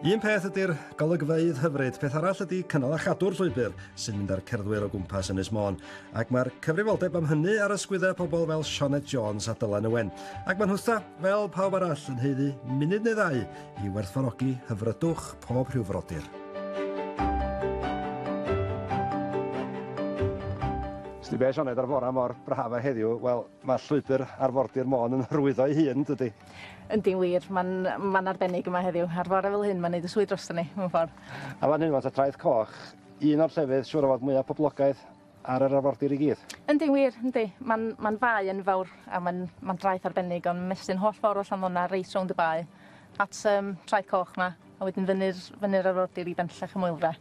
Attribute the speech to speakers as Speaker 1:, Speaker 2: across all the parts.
Speaker 1: Un peth ydy'r golygfeydd hyfryd, peth arall ydy cynnal a chadw'r llwybr sy'n mynd â'r cerddwyr o gwmpas Ynys Môn. Ac mae'r cyfrifoldeb am hynny ar ysgwyddau pobl fel Sioned Jones a Dylan Owen. Ac mae'n hwtha, fel pawb arall, yn heiddi munud neu ddau i werthfawrogi hyfrydwch pob rhyw frodyr. Sti be, Sioned, ar fora mor braf a heddiw, wel, Mae llwybr arfordir Môn yn hyrwyddo ei hun, yn dydi? Yndi'n wir, mae'n man arbennig yma heddiw. Ar fore fel hyn, mae'n neud y swydd drosto ni, mewn ffordd. A fan hyn rwan ta, Traeth Coch, un o'r llefydd siŵr o fod mwya poblogaidd ar yr arfordir i gyd. Yndi'n wir, yndi. Mae'n mae'n fae enfawr a mae'n mae'n draeth arbennig o'n mestyn holl ffordd o Llanddona reit rownd y bae at um, Traeth Coch ma, a wedyn fyny'r fyny'r arfordir i Benllech y Moelfre.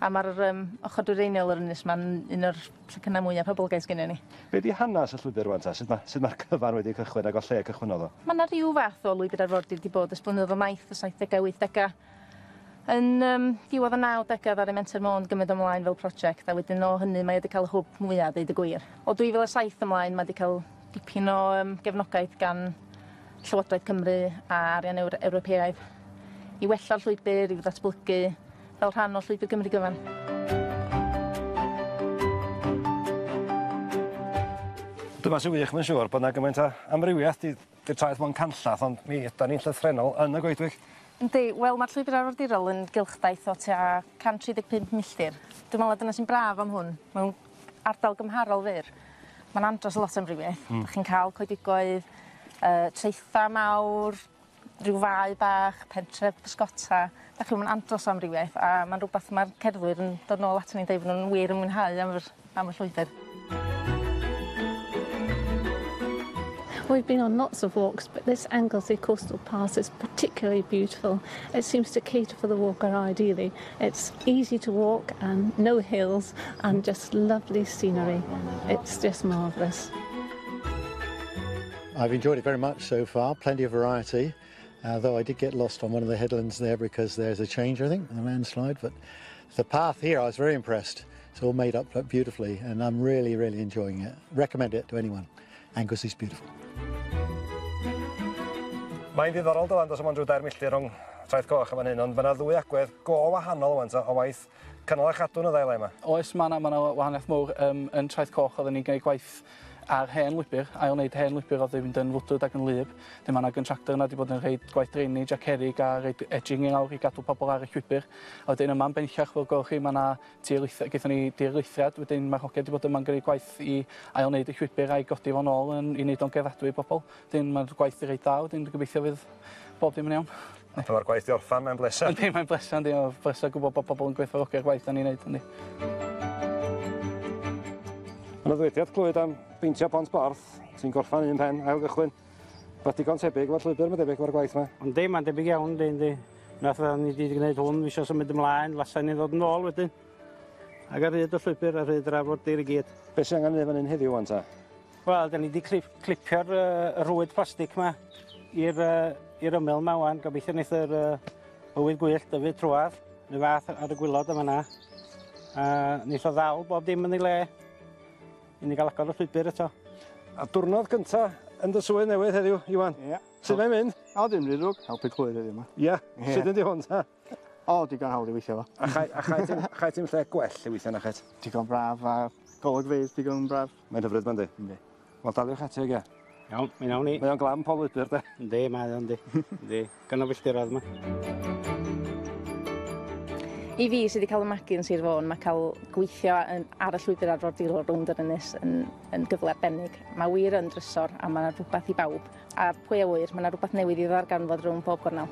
Speaker 1: A mae'r um, ochr dwyreiniol yr ynys mae'n un o'r Llecynnau mwya poblogaidd sgynnon ni. Be di hanas y llwybr rwan ta? Sut ma, sut ma'r cyfan wedi cychwyn ag o lle cychwynnodd o? Ma na ryw fath o lwybr arfordir di bod ers blynyddodd o maith, y saithdegau, wythdegau. Yn um, diwedd y nawdegau ddaru Menter Môn gymryd ymlaen fel prosiect a wedyn o hynny mae wedi cael y hwb mwya, deud y gwir. O 2007 ymlaen mae wedi cael dipyn o um, gefnogaeth gan Llywodraeth Cymru a arian Ewr Ewropeaidd i wella'r llwybr, i'w ddatblygu, fel rhan o Llwybr Gymru Gyfan. Dyma sy'n wych, mae'n siŵr, bod 'na gymaint o amrywiaeth. 'Di 'di'r traeth mo'n canllath, ond mi ydan ni'n llythrennol yn y goedwig. Yndi, wel ma'r llwybyr arfordirol yn gylchdaith o tua 135 milltir. Dwi me'wl na dyna sy'n braf am hwn, mewn ardal gymharol fyr, ma'n andros o lot o amrywiaeth. Hmm. 'Dych chi'n ca'l coedwigoedd yy traetha' mawr, rhyw fae bach, pentre bysgota, 'dach chi'm yn andros o amrywiaeth a ma'n rwbath ma'r cerddwyr yn dod nôl aton ni'n deud bo' nw'n wir yn mwynhau am yr am y llwybyr. We've been on lots of walks but this Anglesey Coastal Pass is particularly beautiful. It seems to cater for the walker ideally. It's easy to walk and no hills and just lovely scenery. It's just marvellous. I've enjoyed it very much so far, plenty of variety, uh, though I did get lost on one of the headlands there because there's a change, I think, a landslide, but the path here, I was very impressed. It's all made up beautifully and I'm really, really enjoying it. Recommend it to anyone. Angus is beautiful. Mae'n ddiddorol dylan dos am ond rhyw dair milltir rhwng traeth goch yn fan hyn, ond mae yna ddwy agwedd go wahanol o'n o waith Canol a chadw'n y ddau le 'ma. Oes, ma' 'na ma' 'na wahaniaeth mowr yym yn Traeth Coch odden ni'n gneud gwaith ar hen lwybr, ail wneud hen lwybr o'dd 'di fynd yn fwdwd ac yn wlyb. 'Dyn ma' 'na gyntractor yna 'di bod yn rheid gwaith draenij a cerrig a reid edging i lawr i gadw pobol ar y llwybr. A wedyn yma yn benllach fel gwelwch chi ma' 'na tir lith- gaethon ni dir lithriad wedyn ma'r hogia 'di bod yma'n gneud gwaith i ail wneud y llwybr a'i godi fo'n ôl yn i neud o'n gerddadwy i bobol. 'Dyn ma'r gwaith 'di reit dda wedyn dwi gobeithio fydd bob dim yn iawn. A pan ma'r gwaith 'di orffan mae'n bleser. Yndi mae'n bleser yndi o bleser gwbo bo' pobol yn gwerthfawrogi'r gwaith 'dan ni'n neud yndi? Ma' 'na ddywediad clwyd am beintio pont Borth sy'n gorffan un pen ail gychwyn. Rwbeth digon tebyg efo'r llwybyr ma' debyg efo'r gwaith 'ma. Yndi ma'n debyg iawn yndi yndi. Nath yy ni 'di gneud hwn fi isio symud ymlaen lasa ni ddod yn ôl wedyn. Ag ar hyd y llwybyr ar hyd yr arfordir i gyd. Be' sy angan neu' fan 'yn heddiw ŵan ta? Wel, 'dan ni 'di clip- clipio'r yy y rhwyd plastic 'ma i'r yy i'r ymyl 'ma ŵan. Gobeithio neith yr yy y ŵydd gwyllt dyfu trwadd, 'run fath ar y gwilod yn fan 'na. A neith o ddal bob dim yn ei le i ni ga'l agor y llwybyr eto. A diwrnod gynta yn dy swydd newydd heddiw, Iwan. Ia. Su' mae'n mynd? O dim ry ddrwg, helpu clwydd heddiw 'ma. Ia? Ia. Sud ydi hwn ta? O digon hawdd i weithio efo. A chau a chau ti'n chau ti'n lle gwell i weithio na chet? Digon braf a golygfeydd digon braf. Mae'n hyfryd 'ma yndi? Yndi. Wel daliwch ati ogia. Iawn, mi nawn ni. Mae o'n glan pob lwybr 'de? Yndi mae o yndi. Yndi. Gan y filltirodd 'ma. I fi sy 'di ca'l 'y magu yn Sir Fôn ma' ca'l gweithio yn ar y llwybyr arfordirol rownd yr ynys yn yn gyfle arbennig. Ma' wir yn drysor a ma' 'na rhwbath i bawb. A pwy a ŵyr ma' 'na rwbath newydd i ddarganfod rownd bob gornel.